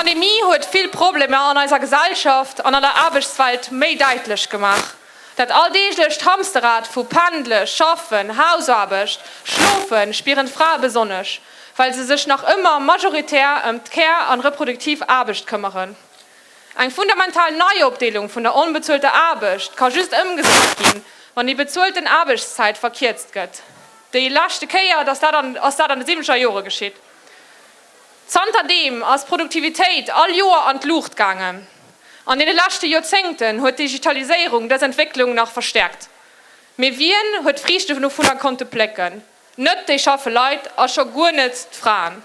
D'Pandemie huet vill Problemer an eiser Gesellschaft an an der Aarbechtswelt méi däitlech gemaach. Dat alldeeglecht Hamsterrad vu Pendle, Schaffen, Hausaarbecht, Schlofen spieren d'Frae besonnesch, well se sech nach ëmmer majoritär ëm d'Care an reproduktiv Aarbecht këmmeren. Eng fundamental Neiopdeelung vun der onbezuelter Aarbecht ka just ëmgesat ginn, wann déi bezuelten Aarbechtszäit verkierzt gëtt. Déi leschte Kéier ass dat an de siwwenzeger Jore geschitt. Zanter deem ass d'Produktivitéit all Joer an d'Luucht gaangen. An deene leschte Joerzéngten huet d'Digitaliséierung dës Entwécklung nach verstäerkt. Mee wien huet d'Friichte dovunner konnte plécken? Net déi schaffe Leit a scho guer net d'Fraen.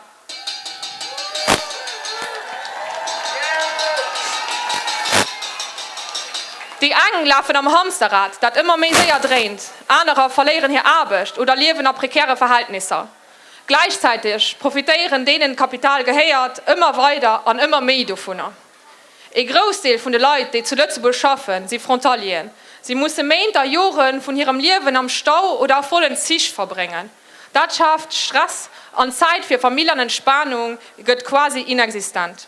Déi eng lafen am Hamsterrad, dat ëmmer méi séier dréint, anerer verléieren hir Aarbecht oder liewen a prekäre Verhältnisser. Gläichzäiteg profitéieren deenen d'Kapital gehéiert ëmmer weider an ëmmer méi dovunner. Ee Groussdeel vun de Leit, déi zu Lëtzebuerg schaffen, si Frontalieren. Si musse Méint a Jore vun hirem Liewen am Stau oder a vollen Zich verbréngen. Dat schaaft Stress an d'Zäit fir Famill an Entspanung gëtt quasi inexistent.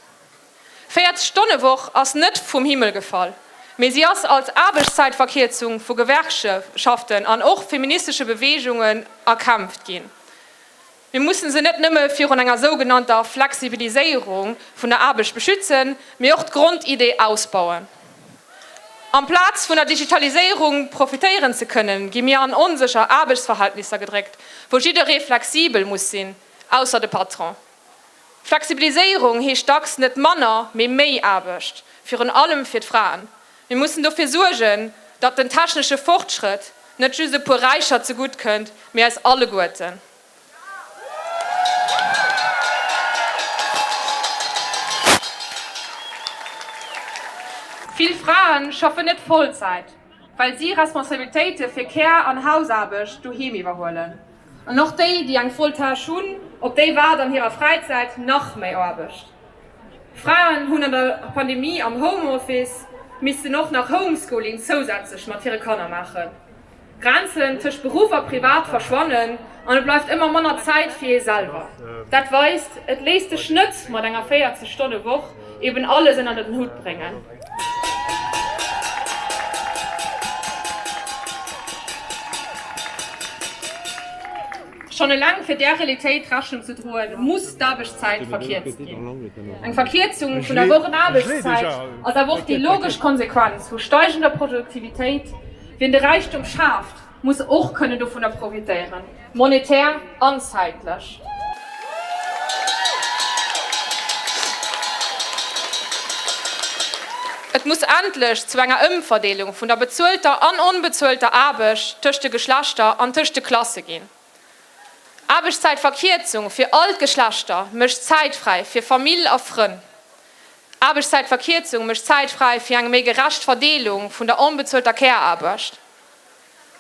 40 Stonne Woch ass net vum Himmel gefall, mee si ass als Aarbechtszäitverkierzung vu Gewerkschaften an och feministesche Beweegungen erkämpft ginn. Mir mussen se net nëmme virun enger sougenannter Flexibiliséierung vun der Aarbecht beschützen, mee och d'Grondidee ausbauen. Amplaz vun der Digitaliséierung profitéieren ze kënnen, gi mir an onsécher Aarbechtsverhältnisser gedréckt, wou jidderee flexibel muss sinn, ausser de Patron. Flexibiliséierung heescht dacks net manner, mee méi Aarbecht, virun allem fir d'Fraen. Mir mussen dofir suergen, datt den technesche Fortschrëtt net just e puer Räicher zegutt kënnt, mee eis alleguerten. Vill Frae schaffen net Vollzäit, well si Responsabilitéite fir Kär an Hausaarbecht doheem iwwerhuelen. An och déi, déi eng voll Tâche hunn, op déi waart an hirer Fräizäit nach méi Aarbecht. Fraen hunn an der Pandemie am Home Office missten och nach Homeschooling zousätzlech mat hire Kanner maachen. D'Grenzen tëscht Beruff a Privat verschwannen an et bleift ëmmer manner Zäit fir ee selwer. Dat weist, et léisst sech net mat enger 40 Stonne Woch eben alles ënner den Hutt bréngen. Schonn eleng fir där Realitéit Rechnung ze droen, muss d'Aarbechtszäit verkierzt ginn. Eng Verkierzung vun der Wochenaarbechtszäit ass awer och déi logesch Konsequenz vu steigender Produktivitéit. Wien de Räichtum schaaft, Muss och kënnen dovunner profitéieren, monetär an zäitlech. Et muss endlech zu enger Ëmverdeelung vun der bezuelter an onbezuelter Aarbecht tëscht de Geschlechter an tëscht de Klasse ginn. Aarbechtszäitverkierzung fir all d'Geschlechter mécht Zäit fräi fir Famill a Frënn. Aarbechtszäitverkierzung mécht Zäit fräi fir eng méi gerecht Verdeelung vun der onbezuelter Care-Aarbecht.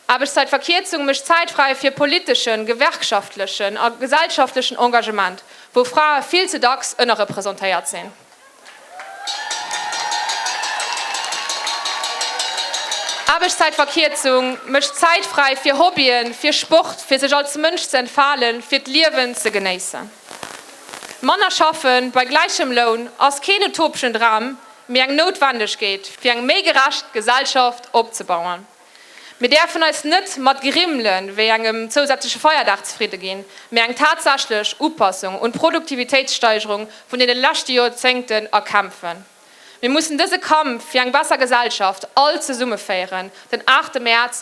Aarbechtszäitverkierzung mécht Zäit fräi fir politeschen, gewerkschaftlechen a gesellschaftlechen Engagement, wou Frae vill ze dacks ënnerrepresentéiert sinn. Aarbechtszäitverkierzung mécht Zäit fräi fir Hobbyen, fir Sport, fir sech als Mënsch ze entfalen, fir d'Liewen ze genéissen. Manner schaffen bei gläichem Loun ass keen utopschen Dram, mee eng Noutwendegkeet, fir eng méi gerecht Gesellschaft opzebauen. Mir däerfen eis net mat Grimmele wéi engem zousätzleche Feierdag zefridde ginn, mee eng tatsächlech Upassung un d'Produktivitéitssteigerung vun deene leschte Jorzéngten erkämpfen. Mir mussen dëse Kampf fir eng besser Gesellschaft all zesumme féieren, den 8 Mäerz